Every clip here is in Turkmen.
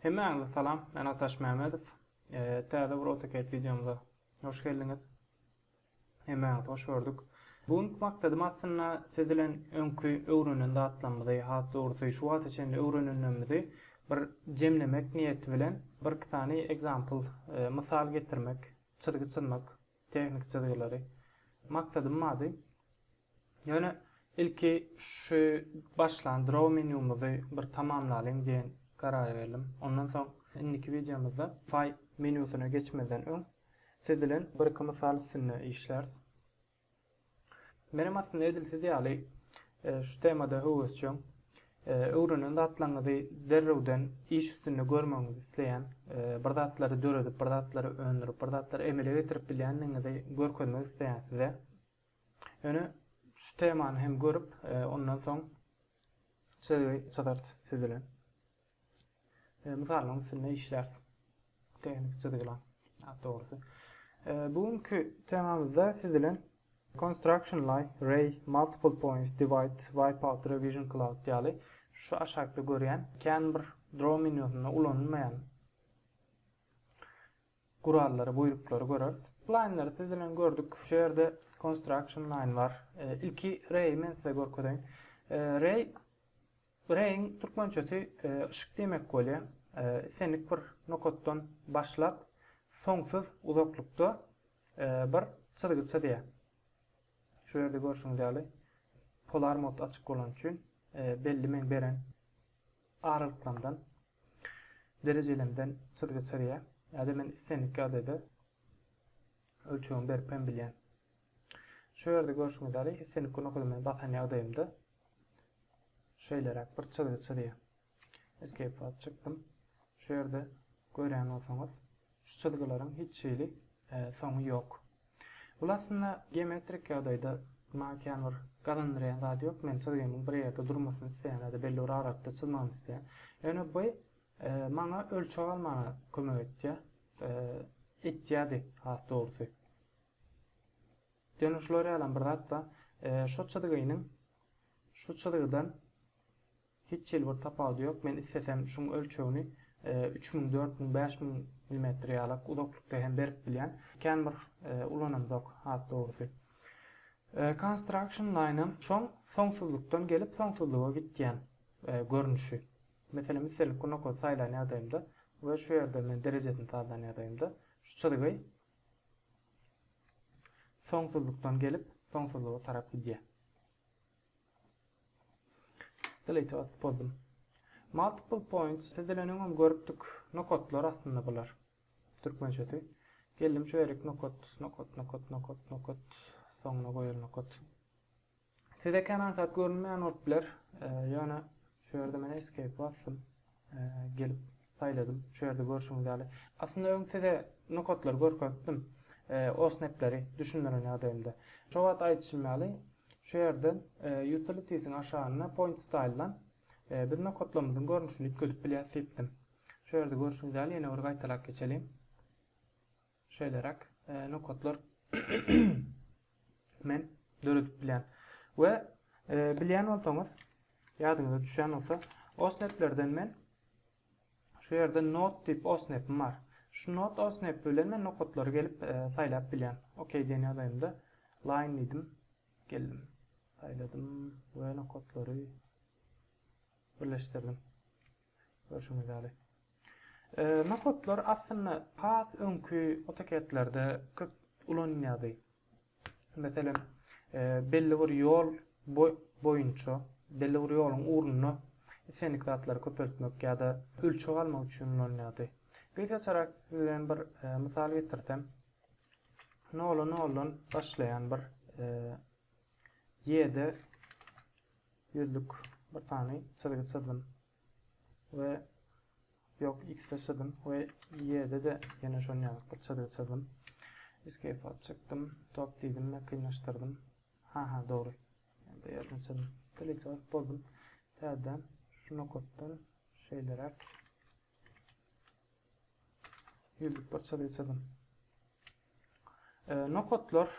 Hemmäňize salam, men Ataş Mämedow. Täze bir AutoCAD wideomyza hoş geldiňiz. Hemmäňizi hoş gördük. Bu günki maksadym aslynda siz bilen öňki öwrenen zatlarymyzy, has dogrusy şu wagta çenli öwrenenlerimizi bir jemlemek niýeti bilen birki sany example, mysal getirmek, çyzgy çyzmak, tehniki çyzgylary. Maksadym bady. Ýöne ilki şu başlan Draw menýumyzy bir tamamlalyň diýen karara geldim. Ondan soň indiki wideomyzda File menýusyna geçmezden öň siz bilen bir-iki mysal üstünde işläris. Menem aslynda edil siz ýaly şu temada höwesjeň. Öwrenen zatlaryňyzy derrewden iş üstünde görmegiňizi isleýän, bir zatlary döredip, bir zatlary öndürip, bir zatlary emele getirip bilýändigiňizi görkezmek isleýän size. Ýöne şu temany hem görüp, e, ondan soň çözgi çyzarys siz bilen. E, Mysallaryň üstünde işläris. Tehniki çyzgylar, dogrusy. E, bu günki temamyzda siz bilen construction line, ray, multiple points, divide, wipeout, revision cloud ýaly şu aşakda görýän kän bir draw menýusynda ulanylmaýan gurallary buýruklary göreris. Laýnlary siz bilen gördük. Şu ýerde construction line bar. Ilki reý men size görkezeýin. Reý reýiň türkmençesi yşyk diýmek bolýar. Islendik bir nokatdan başlap soňsuz uzaklykda bir çyzgy çyzýar. Şu ýerde görşüňiz ýaly polar mod açyk bolany üçin belli meň beren Aralyklarydan, derejelerimden çyzgy çyzýar. Ýa-da men islendik ýagdaýda ölçegimi berip hem bilýän. Şu ýerde görşüňiz ýaly, islendik gnokada men basan ýagdaýymda şeýleräk bir çyzgy çyzýar. Escape basyp çykdym. Şu ýerde görýän bolsaňyz, Şu çyzgylaryň hiç hili soňy ýok. Bul aslynda geometrik ýagdaýda maňa kän bir gazandyrýan zady ýok. Men çyzgymyň bir ýerde durmasyny isleýän ýa-da belli bir aralykda çyzmagyny isleýän. Ýöne bu maňa ölçeg almaga kömek etýär. Etýärdi has dogrusy. Ýöne şular ýalam bir zat bar. Şu çyzgynyň şu çyzgydan Hiç hili bir tapawudy ýok, men islesem şuň ölçegini üç müň, dört müň, bäş müň millimetr ýalak uzaklykda hem berip bilýän. Kän bir ulanamzok has dogrusy. Construction Line-am şoň soňsuzlykdan gelip soňsuzlyga gitýän görnüşi. Meselem islendik bir nokady saýlan ýagdaýymda we şu ýerde men derejesini sazlan ýagdaýymda şu çyzgy soňsuzlykdan gelip soňsuzlyga tarap gidýär. Delete basyp boldum. Multiple points tizileniň öň görüpdik nokatlar aslynda bular. Türkmençesi. Geldim şu erik nokat, nokat, nokat, nokat, nokat. Soňuna goýal nokat. Size kän aňsat görünmeýän bolup biler. Ýöne şu ýerde men escape basdym. Gelip saýladym. Şu ýerde görşüňiz ýaly. Aslynda öň size nokatlary görkezipdim. OSNAP-leri düşündiren ýagdaýymda. Şo wagt aýdyşym ýaly, şu ýerden Utilities-iň aşagynda Point Style-dan biz nokatlarymyzyň görnüşini üýtgedip bilýäris diýipdim. Şu ýerde görşüňiz ýaly ýene bir gaýtalap geçeliň. Şeýleräk nokatlar men döredip bilýän. We bilýän bolsaňyz, ýadyňyza düşýän bolsa, osneplerden men şu ýerde not diýip osnepim bar. Şu not osnepi bilen men nokatlary gelip saýlap bilýän. OK diýen ýagdaýymda line diýdim. Geldim. Saýladym we nokatlary birleşdirdim. Görşüňiz ýaly. Nohutlar aslynda has öňki otoketlerde köp ulanylýardy. Meselem, belli bir ýol boýunça, belli bir ýoluň ugrunda islendik zatlary köpeltmek ýa-da ölçeg almak üçin ulanylýardy. Gysgaçarak sizden bir mysal getirsem, nola noldan başlaýan bir ýerde ýüzlük bir sany çyzgy çyzdym. we yok x de çyzdym we y de de ýene şon ýaly bir çyzgy çyzdym. Escape alyp çykdym. Top diýdim we kynlaşdyrdym. Ha ha dogry. Bu ýerden çyzdym. Delete alyp boldum. Täzeden şu nokatdan şeýleräk ýüzlük bir çyzgy çyzdym. E, nokatlar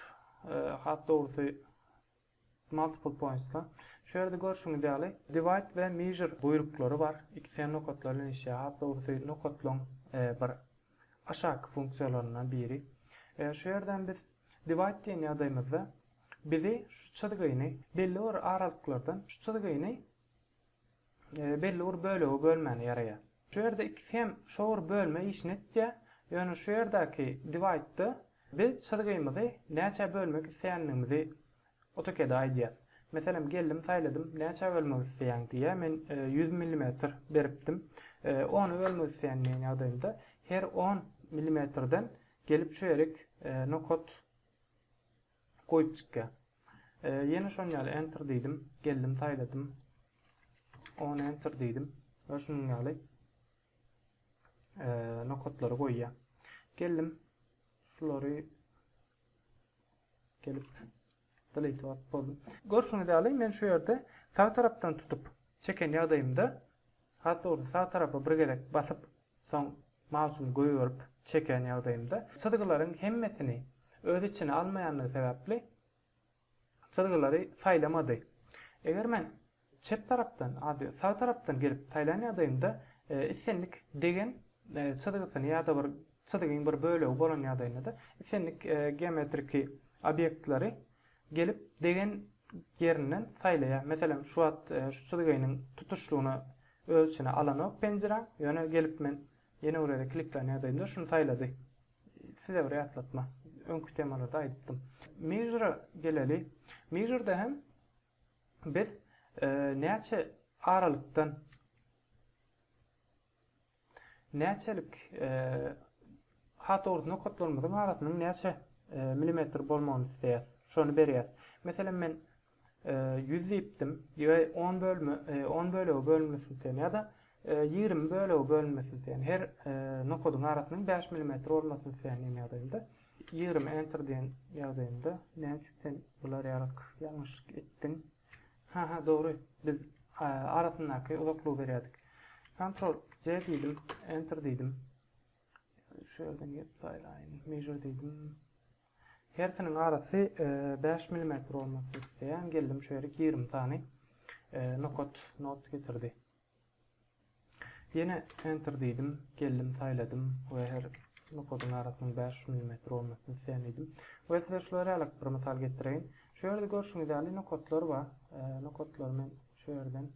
e, hat dogrusy Multiple points-da, şu ýerde görşüňiz ýaly, divide we measure buýruklary bar, ikisi hem nokatlar bilen işleýär, has dogrusy nokatlaryň bir aşaky funksiýalaryndan biri. Şu ýerde hem biz divide diýen ýagdaýymyzda bizi şu çyzgyny belli bir aralyklardan şu çyzgyny belli bir bölegi bölmäne ýaraýar. Şu ýerde ikisi hem şo bir bölme işini etýär. Ýöne şu ýerdäki divide-de biz çyzgymyzy näçä bölmek isleýändigimizi AutoCAD-a aýdýas. Meselem, geldim saýladym, näçä bölmek isleýäň diýýär. Men ýüz millimetr beripdim. Ona bölmek isleýän diýen ýagdaýymda her on millimetrden gelip şu ýerik nokat Goýup çykýa. Ýene şon ýaly enter diýdim. Geldim saýladym. On enter diýdim. We şunuň ýaly nokatlary goýýa. Geldim. Şulary gelip delete wagt boldy. Görşüňiz ýaly men şu ýerde sag tarapdan tutup çeken ýagdaýymda Hattyrdy sag tarapa bir gezek basyp, soň mausumy goýberip çekýän ýagdaýymda, çyzgylaryň hemmesini öz içine almaýandygy sebäpli çyzgylary saýlamady. Eger men çep tarapdan ady sag tarapdan gelip saýlan ýagdaýymda, islendik degen çyzgysyny ýa-da bir çyzgyň bir bölegi bolan ýagdaýynda-da islendik geometriki obýektleri Gelip degen ýerinden saýlaýar. Meselem, şu wagt şu çyzgynyň tutuşlygyny öz içine alanok penjire, ýöne gelip men ýene bir ýere kliklän ýagdaýymda şuny saýlady. Size bir ýatlatma, öňki temalarda aýdypdym. Measure-a geleli. Measure-da hem biz näçe aralykdan Näçelik hat ord nokatlarymyzyň arasynyň näçe milimetr bolmagyny isleýäs. Şony berýäs. Meselem men 100 diýipdim. Ýa 10 bölme 10 bölege bölünmesini isleýän ýa-da 20 bölege bölünmesini isleýän. Her nokadyň arasynyň 5 milimetr bolmasyny isleýän diýen ýagdaýymda 20 enter diýen ýagdaýymda näme üçin sen bular ýarak ýalňyşlyk etdiň. Haha dogry biz arasyndaky uzaklygy berýärdik. Ctrl C diýdim, enter diýdim. Şu ýerden gelip saýlaýyn. Measure diýdim. Hersiniň arasy 5 e, mm bolmasy isleýän. Geldim şu ýere 20 sany e, nokat not getirdi. Ýene Enter diýdim. Geldim saýladym we her nokadyň arasynyň bäş ýüz millimetr bolmasyny isleýän diýdim. We size şular ýalyk bir mysal getireýin. Şu ýerde görşüňiz ýaly nokatlar bar. Nokatlary men şu ýerden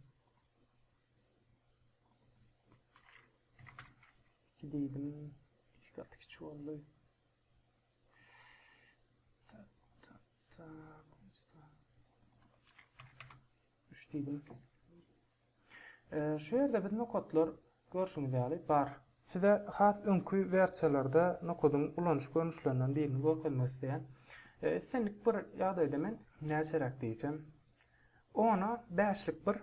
iki diýdim. Iki gat kiçi boldy. Üç diýdim. Şu ýerde biz nokatlar, görşüňiz ýaly, bar. Size has öňki wersiýalarda nokadyň ulanyş görnüşlerinden birini görkezmek isleýän. Islendik bir ýagdaýda men näçeräk diýsem, ona bäşlik bir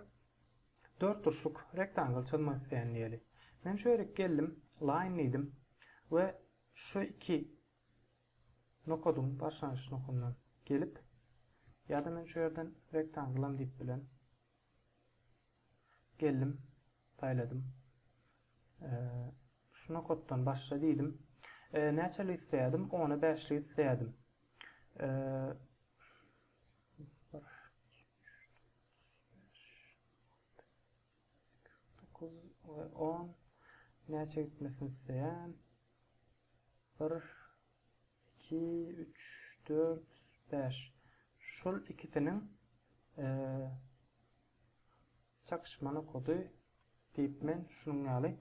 dörtburçluk rektangl çyzmak isleýän diýeli. Men şu ýerik geldim, line diýdim we şu iki Nokadyň başlangyç nokdundan gelip, ýa-da men şu ýerden rektangylam diýip bilen. Geldim, saýladym. Şu nokatdan başla diýdim. Näçelik isleýärdim? Ona bäşlik isleýärdim. On näçe gitmesini isleýän? Bir, iki, üç, dört, bäş. Şol ikisiniň çakyşma nokady diýip men şunuň ýaly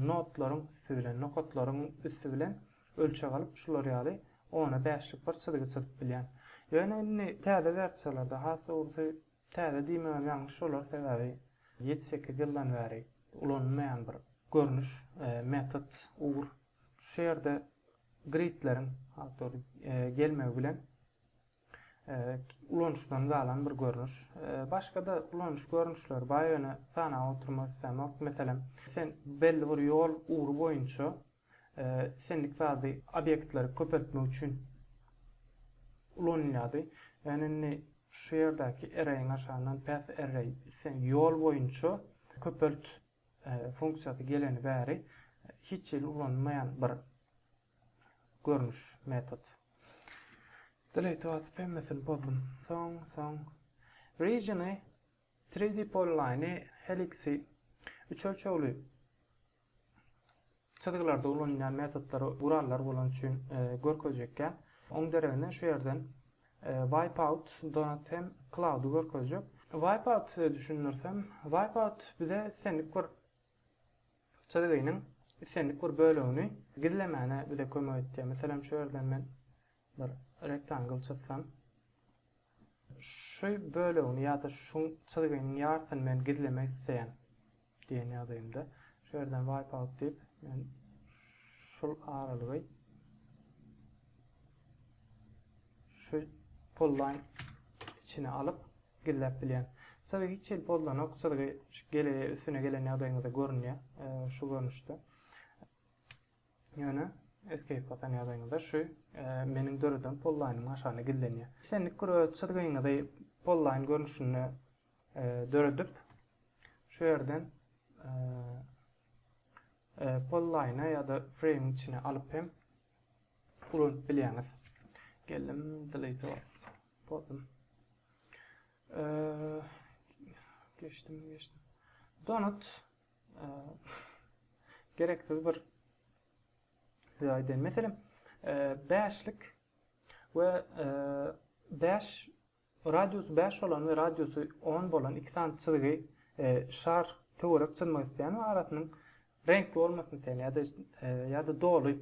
notlaryň üsti bilen, nokatlaryň üsti bilen ölçeg alyp, şular ýaly ona bäşlik bir çyzgy çyzyp bilýän. Ýöne indi täze wersiýalarda, has dogrusy Täze diýmegem ýalňyş bolar, sebäbi ýedi-sekiz ýyldan bäri ulanylmaýan bir görnüş, metod, ugur. Şu ýerde gridleriň awtor gelmegi bilen ulanyşdan galan bir görnüş. Başga-da ulanyş görnüşleri bar, ýöne sanap oturmak islämok. Meselem, sen belli bir ýol ugry boýunça Sendik zady obýektleri köpeltmek üçin ulanylýardy. Ýöne indi şu ýerdäki arraýiň aşagyndan path array, sen ýol boýunça köpelt funksiýasy geleni bäri hiç hili ulanylmaýan bir görnüş, metod. Delete basyp hemmesini pozdum. Soň, soň. Regiony Three-D Polyline Helix-i üçölçegli çyzgylarda ulanylýan metodlar, gurallar bolan üçin görkezjekkä. Oň deregine şu ýerden Wipeout, Donut hem Cloud-y görkezjek. Wipeout size düşündirsem, Wipeout bize islendik bir çyzgynyň islendik bir bölegini gizlemäne bize kömek etýär. Meselem şu ýerden men Bir rektangl çyzsam. Şu bölegini ýa-da şu çyzgynyň ýarsyny men gizlemek isleýän diýen ýagdaýymda. Şu ýerden wipe out diýip, men şul aralygy şu polline içine alyp gizläp bilýän. Çyzgy hiç hili pozlanok, çyzgy gele üstüne gelen ýagdaýyňyzda görünýär, şu görnüşde. Ýöne Escape basan ýagdaýyňyzda şu meniň döreden pollaýnymyň aşagyna gizlenýär. Islendik gürrüň çyzgyňyzy pollaýn görnüşinde döredip, şu ýerden pollaýna ýa-da frame içine alyp hem ulanyp bilýäňiz. Geldim delete pozum. Geçdim, geçdim. Donut gereksiz bir size aýdaýyn. Meselem, bäşlik we bäş radiusy bäş bolan we radiusy on bolan iki sany çyzgy şar töwerek çyzmak isleýän we arasynyň reňkli bolmasyny isleýän ýa-da ýa-da doly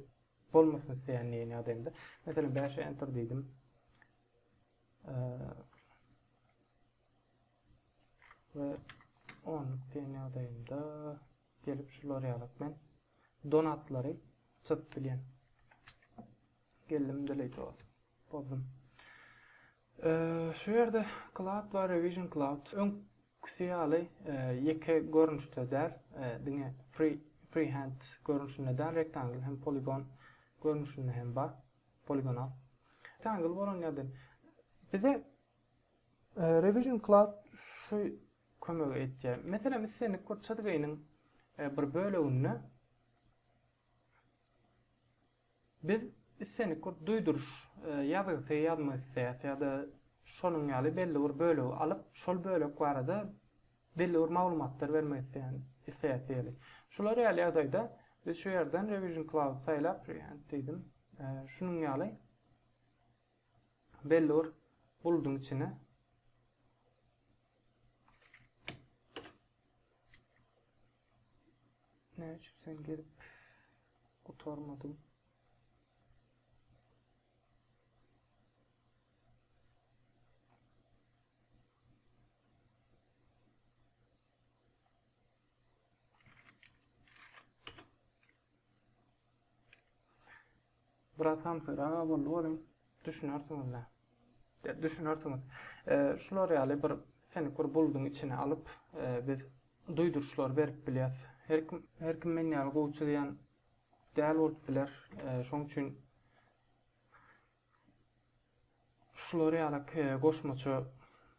bolmasyny isleýän diýen ýagdaýynda. Meselem, bäşe enter diýdim. we onluk diýen ýagdaýymda gelip şular ýaly men donatlary çyzyp bilýän. Geldim delete olsun. Bozdum. Ee, şu ýerde cloud we revision cloud öň küsi ýaly e, ýeke görnüşde däl, e, diňe free freehand görnüşinde däl, rectangle hem poligon görnüşinde hem bar. Poligonal. Rectangle bolan ýerde bize Revision Cloud şu kömegi etýär. Meselem, islendik bir çyzgynyň bir böleginde biz islendik bir duýduryş ýazgysy ýazmak isleýäs ýa-da şonuň ýaly belli bir bölegi alyp, şol bölek barada belli bir maglumatlar bermek isleýän isleýäs diýeli. Şular ýaly ýagdaýda biz şu ýerden Revision Cloud saýlap, React diýdim, şunuň ýaly Belli bir buludyň içine Näme üçin sen gelip gutarmadyň? Biraz samsyrak boldy welin düşünersiňiz-dä. Ýa düşünersiňiz. Şular ýaly bir siňik bir bulduň içine alyp, biz duýduryşlary berip bilýäs. Her kim, her kim men ýaly gowy çyzýan däl bolup biler. Şoň üçin Şular ýaly goşmaça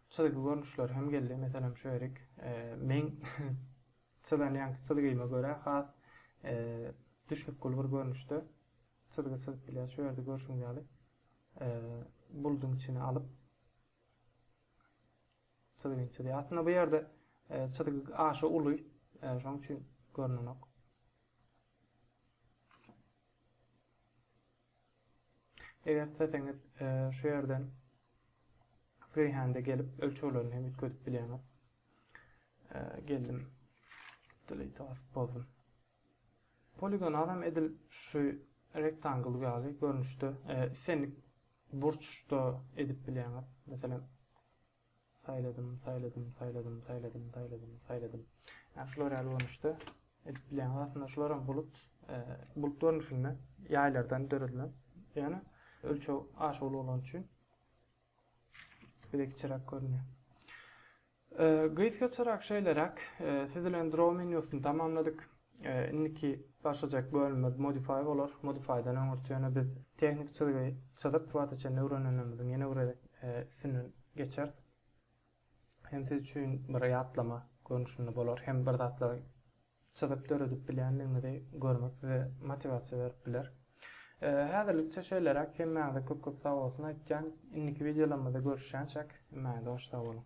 çyzgy görnüşleri hem geldi. Meselem, şu ýerik meň çyzan ýaňky çyzgyma görä has düşnükgül bir görnüşde çyzgy çyzyp bilýär. Şu ýerde görşüňiz ýaly buludyň içine alyp çyzgyny çyzýar. Aslynda bu ýerde çyzgy aşa uly, şonuň üçin görnenok. Eger isleseňiz şu ýerden freehand-e gelip ölçeglerini hem üýtgedip bilýäňiz. Geldim. Delete basyp bozdum. Poligon adam edil şu rectangle ýaly görnüşde islendik burçda edip bilýäňiz. Meselem, Saýladym, saýladym, saýladym, saýladym, saýladym, saýladym. Ýa şular ýaly görnüşde edip bilýäňiz. Aslynda şularam bulut, bulut görnüşinde ýaýlardan döredilen. Ýöne ölçeg aşa uly bolany üçin Bilek çyrak görünýär. Ee, Gyzga çyrak şeýleräk, ee, siz bilen draw menýusyny tamamladyk. Indiki başlajak bölümimiz modify bolar. Modifydan öňürti ýöne biz tehniki çyzgy çyzyp şu wagta çenli öwrenenimiziň ýene bir gezek üstünden geçeris. Hem siz üçin bir ýatlama görnüşinde bolar, hem bir zatlary çyzyp döredip bilýändigiňizi görmek size motiwasiýa berip biler. Häzirlikçe şeýleräk, hemmäňize köp-köp sag bolsun aýtýan. Indiki wideolarymyzda görüşýänçäk, hemmäňize hoş sag boluň.